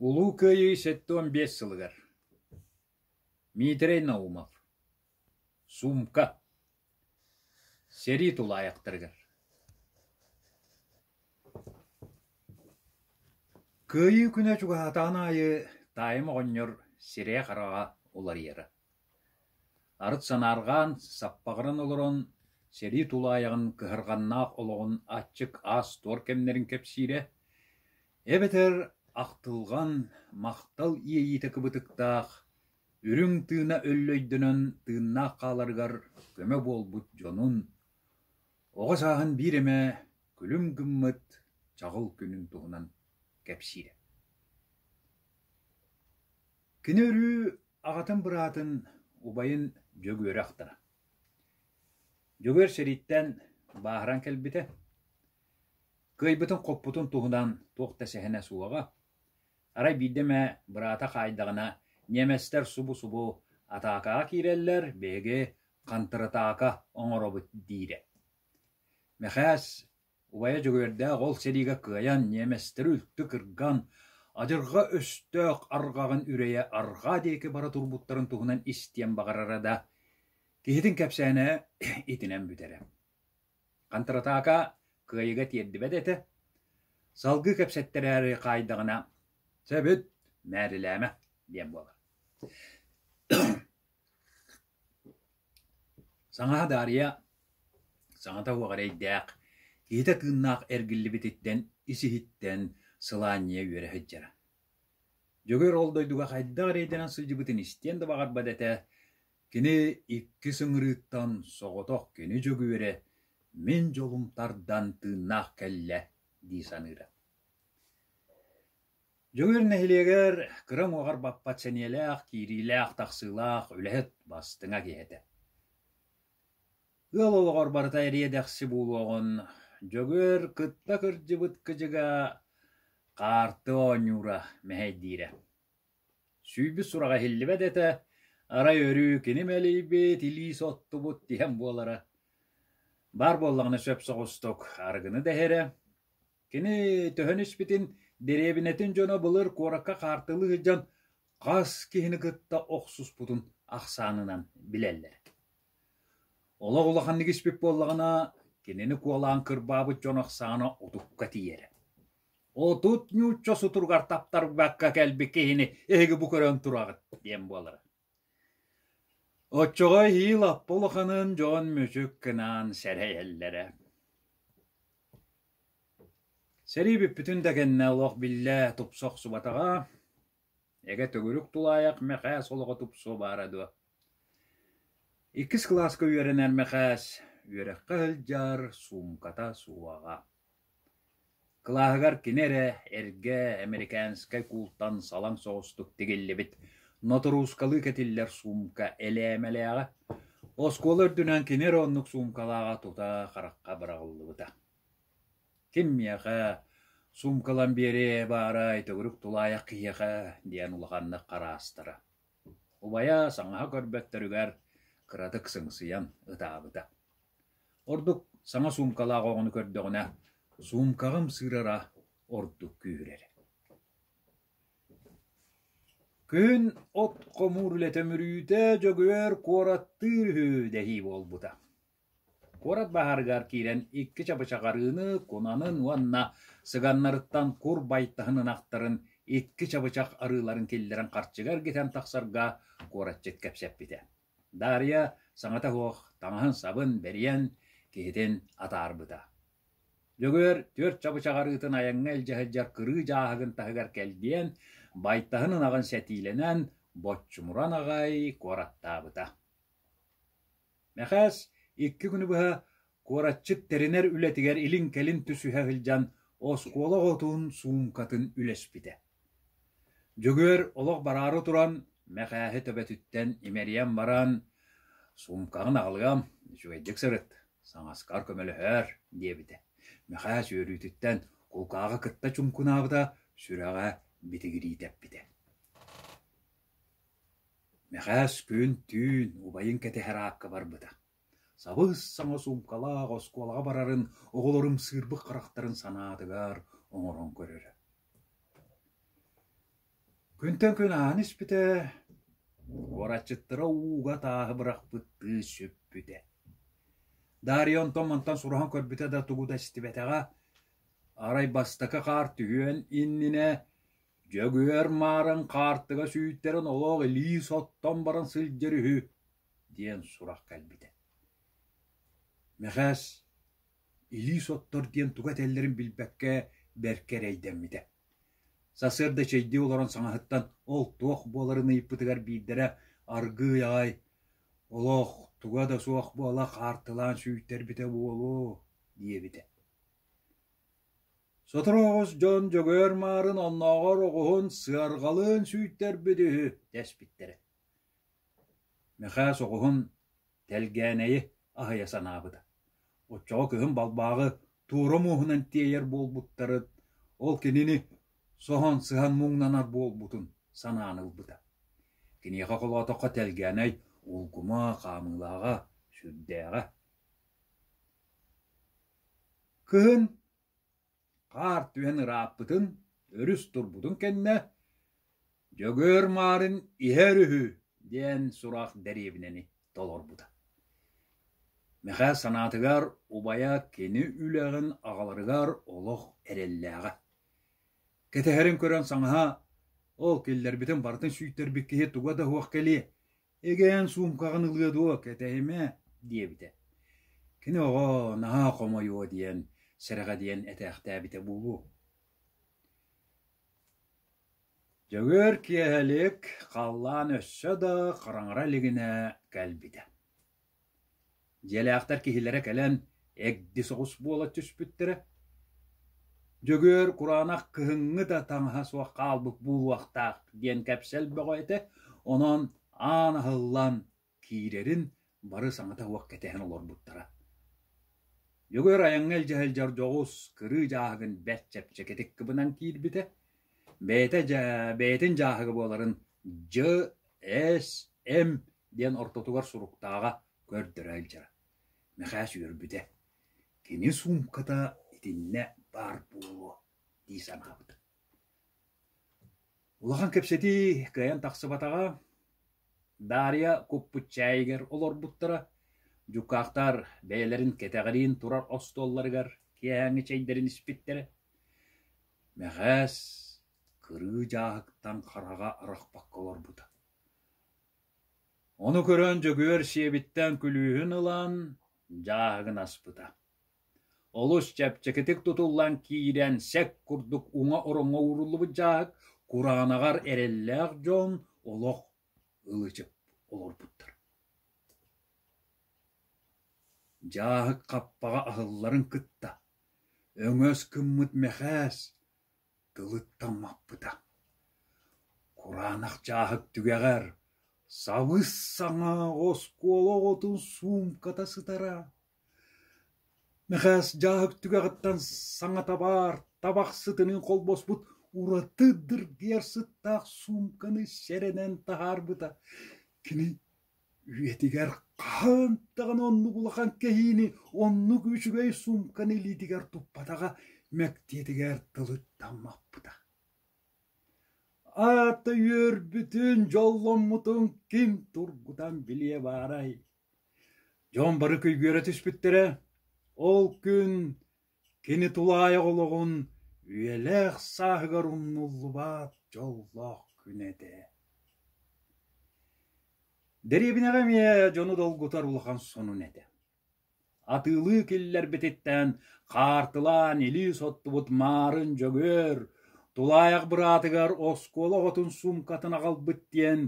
Улуу Кыайыы сэттэ уон биэс сылыгар Миитэрэй Наумов «Суумка» сэрии тулаайахтарыгар Кыайыы күнэ чугаһаатаҕын аайы Таайым оҕонньор сирэйэ-хараҕа уларыйара Арыт санаарҕаан, саппаҕыран олорон, сэрии тулаайаҕын кыһарҕаннаах олоҕун аччык аас-туор кэмнэрин кэпсиирэ, эбэтэр ахтылҕан, махтал иэйиитэ кыбытыктаах, үрүҥ тыына өллөйдөнөн тыыннаах хааларыгар көмө буолбут дьонун, оҕо сааһын биир эмэ күлүм гыммыт чаҕыл күнүн туһунан кэпсиирэ. Кини өрүү Аҕатын быраатын убайын Дьөгүөрэ ахтара. Дьөгүөр сэрииттэн бааһыран кэлбитэ. Кыайбытын-хоппутун туһунан туох да сэһэнэ суоҕа. Арай биирдэ эмэ быраата хаайдаҕына ньиэмэстэр субу-субу атаакаҕа киирэллэр, биһиги хантыратаака оҥоробут диирэ. Мэхээс Убайа дьөгүөрдээх ол сэриигэ кыайан ньиэмэстэри үлтү кырган, адьырҕа өстөөх арҕаҕын үрэйэ арҕаа диэки бара турбуттарын туһунан истиэн баҕарара да, киһитин кэпсээнэ итинэн бүтэрэ. Хантыратаака кыайыга тиэрдибэт этэ, салгыы кэпсэттэрээри хаайдаҕына «Сөбүт, мээрилээмэ» диэн буолар Саҥаһа Даарыйа саҥата уһук эрэйдээх, иһитэ тыыннаах эргиллибититтэн, ис-иһиттэн сылаанньыйа үөрэ сылдьара. Дьөгүөр ол дойдуга хайдах эрэйдэнэн сылдьыбытын истиэн да баҕарбат этэ, кини иккис ыҥырыыттан соҕотох кини Дьөгүөрэ «Мин дьолум тардан тыыннаах кэллэ» дии саныыра. Дьөгүөр нэһилиэгэр кыра уҥуоҕар баппат сэниэлээх, киириилээх-тахсыылаах үлэһит бастыҥа киһи этэ. Ыал олоҕор барыта эриэ-дэхси буолуоҕун Дьөгүөр кытта кырдьыбыт кыдьыга хаарты оонньуура, мэһэйдиирэ. Сүүрбүт сураҕа иһиллибэт этэ, арай өрүү кини мэлийбит, илиис оттубут тиһэн буолара. Баар буоллаҕына сөп соҕустук арыгыны да иһэрэ, Кини төһөн испитин дэриэбинэтин дьоно былыр куоракка хаартылыы сылдьан хас киһини кытта охсуспутун ахсаанынан билэллэр. Олох улаханнык испит буоллаҕына, кинини куолаан кырбаабыт дьон ахсаана утукка тиийэрэ. Отут нуучча сутуругар таптарбакка кэлбит киһини эһиги бу көрөн тураҕыт диэн буолара. Оччоҕо эһиил Аппа улаханын дьон мүчүк гынаан сэрэйэллэрэ Сэрии бүппүтүн да кэннэ олох биллэ тупса охсубатаҕа, эгэ төгүрүк тулаайах Мэхээс олоҕо тупсуо баара дуо? Иккис кылааска үөрэнэр Мэхээс үөрэххэ сылдьар суумката суоҕа Кылааһыгар кини эрэ эргэ американскай куултан салаҥ соҕустук тигиллибит ноторуускалыы кэтиллэр суумка элээмэлээҕэ, оскуола үрдүнэн кини эрэ оннук суумкалааҕа тута харахха быраҕыллыбыта. «Ким миэхэ суумкалан биэриэ баарай, төгүрүк тулаайах киһиэхэ» диэн улаханнык хараастара Убайа саҥаһа көрбөттөрүгэр кыратык сыҥсыйан ытаабыта. Ордук саҥа суумкалаах оҕону көрдөҕүнэ, суумкаҕым сыырара ордук күүһүрэр «Күһүн от хомуур үлэтэ мүрүүтэ Дьөгүөр куораттыыр үһү» дэһии буолбута Куорат баһаарыгар киирэн икки чабычахарыыны, кунанын уонна сыганнарыттан кур байтаһын ынахтарын икки чабычах арыыларын киллэрэн харчыга эргитэн тахсарга куораччыт кэпсэппитэ: Даарыйа саҥата суох таҥаһын-сабын бэрийэн, киһитин атаарбыта. Дьөгүөр түөрт чабычах арыытын айаҥҥа илдьэ сылдьар кырыы дьааһыгын таһыгар кэлгийэн, байтаһын ынаҕын сэтиилэнэн, боччумуран аҕай куораттаабыта. Мэхээс икки күнү быһа куораччыт тэринэр үлэтигэр илин-кэлин түсүһэ сылдьан оскуола оҕотун суумкатын үлэспитэ. Дьөгүөр олох бараары туран Мэхээһи төбөтүттэн имэрийэн баран «Суумкаҕын аҕалыам, үчүгэйдик сырыт, саҥаскар көмөлөһөөр» диэбитэ. Мэхээс үөрүүтүттэн кулкааҕа кытта чуҥкунаабыта, сүрэҕэ битигирии тэппитэ. Мэхээс күн-түүн убайын кэтэһэр аакка барбыта, сабыс-саҥа суумкалаах оскуолаҕа барарын оҕолорум сыырбык харахтарын санаатыгар оҥорон көрөрө Күнтэн күн ааһан испитэ, куораччыттара ууга тааһы бырахпыттыы сүппүтэ. Дария онтон-мантан сураһан көрбүтэ да тугу да истибэтэҕэ, арай бастакы хаар түһүөн иннинэ Дьөгүөр Маарыҥ хаартыга сүүйдэрэн олох илии соттон баран сылдьар үһү, диэн сурах кэлбитэ Мэхээс илии соттор диэн туга этэллэрин билбэккэ бэркэ эрэйдэммитэ. Сарсыарда чэйдии олорон саҥаһыттан ол туох буоларын ыйыппытыгар биирдэрэ аргыый аҕай «Олох туга да суох буола хаартылаан сүүйтэрбитэ буолуо» диэбитэ Соторуоҕус дьон Дьөгүөр Маарын оннооҕор оҕуһун сыарҕалыын сүйтэрбит үһү дэспиттэрэ Мэхээс оҕуһун тэлгээнэйи аһыйа санаабыта, оччоҕо кыһын балбааҕы туора мууһунан тиэйэр буолбуттарын, ол кинини соһон сыһан муҥнанар буолбутун санаан ылбыта. Киниэхэ холоотоххо тэлгээнэй улгума, хаамыылааҕа, сүрдээҕэ. Кыһын хаар түһэн ырааппытын өрүс турбутун кэннэ «Дьөгүөр Марын иһэр үһү» диэн сурах дэриэбинэни толорбута. Мэхээ санаатыгар убайа кини үлэҕин аҕаларыгар олох эрэллээҕэ. Кэтэһэрин көрөн саҥаһа «Ол киллэрбитин барытын сүйтэрбит киһи туга да суох кэлиэ, Эгээн суумкаҕын ылыа дуо, кэтэһимэ, диэбитэ. Кини оҕо наһаа хомойуо диэн, сэрэҕэдийэн этээхтээбитэ буолуо Дьөгүөр киэһэлик халлаан өссө да хараҥара илигинэ кэлбитэ Дьиэлээхтэр киһилэрэ кэлэн эгди соҕус буола түспүттэрэ, «Дьөгүөр кураанах кыһыҥҥы да таҥаһа суох хаалбыт буолуохтаах» диэн кэпсэл бөҕө этэ, онон аан аһыллан киирэрин бары саҥата-суола кэтэһэн олорбуттара. Дьөгүөр айаҥҥа илдьэ сылдьар дьоҕус кырыы дьааһыгын бэрт чэпчэкитик кыбынан киирбитэ, Бэйэтэ дьэ бэйэтин дьааһыга буоларын дьэ-эс-эм диэн ортотугар суруктааҕа көрдөрө илдьэрэ. Мэхээс үөрбүтэ: «Кини суумката итиннэ баар буолуо» дии санаабыта. Улахан кэпсэтии кыайан тахсыбатаҕа, Даарыйа куппут чээйигэр олорбуттара, дьукаахтар бэйэлэрин кэтэҕириин турар остуолларыгар киэһээҥҥи чэйдэрин испиттэрэ. Мэхээс кырыы дьааһыктан хараҕа арахпакка олорбута. Ону көрөн Дьөгүөр сиэбиттэн күлүүһүн ылан, дьааһыгын аспыта. Олус чэпчэкитик тутуллан киирэн сэк курдук уҥа ороҥҥо ууруллубут дьааһык кураанаҕар эрэллээх дьон олох ылычып олорбуттар. Дьааһык хаппаҕа аһылларын кытта Өҥөс гыммыт Мэхээс тылыттан маппыта: кураанах чааһык түгэҕэр сабыс-саҥа оскуола оҕотун суумката сытара, Мэхээс дьааһык түгэҕиттэн саҥата баар табах сытынын холбоспут ураты дыргыйар сыттаах суумканы сэрэнэн таһаарбыта, кини үйэтигэр хаһан даҕаны оннук улахан кэһиини, оннук үчүгэй суумканы илиитигэр туппатаҕа, мэктиэтигэр тылыттаммаппыта. Аата үөрбүтүн, дьолломмутун ким тургутан билиэ баарай? Дьон бары күйгүөрэ түспүттэрэ. Ол күн Кини тулаайах олоҕун үйэлээх сааһыгар умнуллубат дьоллоох күн этэ Дэриэбинэҕэ эмиэ дьону долгутар улахан сонун этэ. Атыылыы киллэрбититтэн хаартылаан илии соттубут Маарын Дьөгүөр тулаайах быраатыгар оскуола оҕотун суумкатын аҕалбыт диэн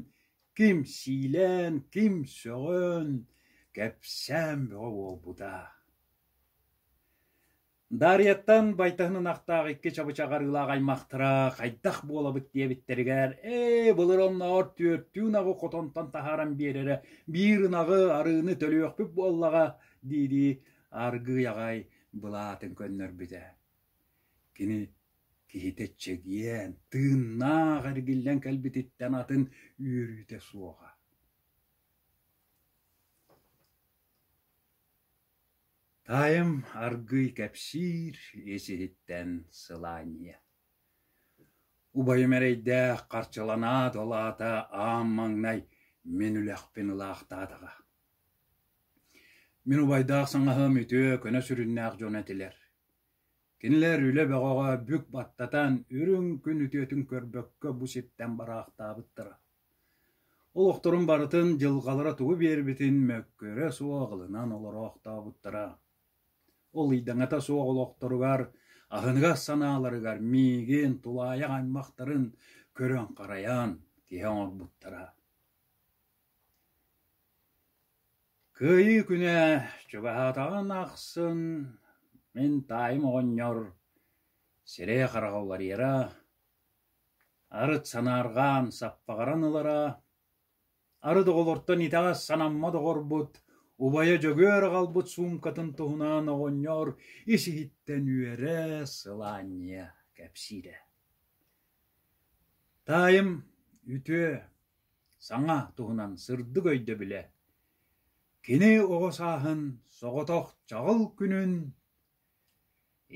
ким сиилээн, ким сөҕөн, кэпсээн бөҕө буолбута. Даарыйаттан байтаһын ынахтаах икки чабычах арыылаах аймахтара хайдах буолабыт диэбиттэригэр ээ былыр оннооҕор түөртүү ынаҕы хотонтон таһааран биэрэрэ биир ынаҕы арыыны төлүөхпүт буоллаҕа диирии аргыый аҕай былаатын көннөрбүтэ кини киһитэ чэгиэн тыыннаах эргиллэн кэлбититтэн атын үөрүүтэ суоҕа Таайым аргыый кэпсиир ис-иһиттэн сылаанньыйа: «Убайым эрэйдээх харчыланаат ол аата аам маҥнай мин үлэхпин ылаахтаатаҕа. Мин убайдаах саҥаһым үтүө, көнө сүрүннээх дьон этилэр. Кинилэр үлэ бөҕөҕө бүк баттатан, үрүҥ күн үтүөтүн көрбөккө бу сиртэн бараахтаабыттара. Олохторун барытын дьылҕалара тугу биэрбитин мөккүөрэ суох аҕылынан олороохтообуттара. Ол ыйдаҥата суох олохторугар, аһыныгас санааларыгар миигин, тулаайах аймахтарын көрөн-харайан киһи оҥорбуттара. Кыайыы күнэ чугаһаатаҕын ахсын мин таайым оҕонньор сирэй-хараҕа уларыйара, Арыт санаарҕаан саппаҕыран ылара, арыт оҕолортон итэҕэс санамма доҕорбут, убайа Дьөгүөр аҕалбыт суумкатын туһунаан оҕонньор ис-иһиттэн үөрэ, сылаанньыйа кэпсиирэ: «Таайым үтүө, саҥа туһунан сырдык өйдөбүлэ. Кини оҕо сааһын соҕотох чаҕыл күнүн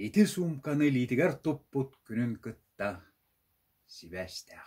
Ити суумканы илиитигэр туппут күнүн кытта сибээстээх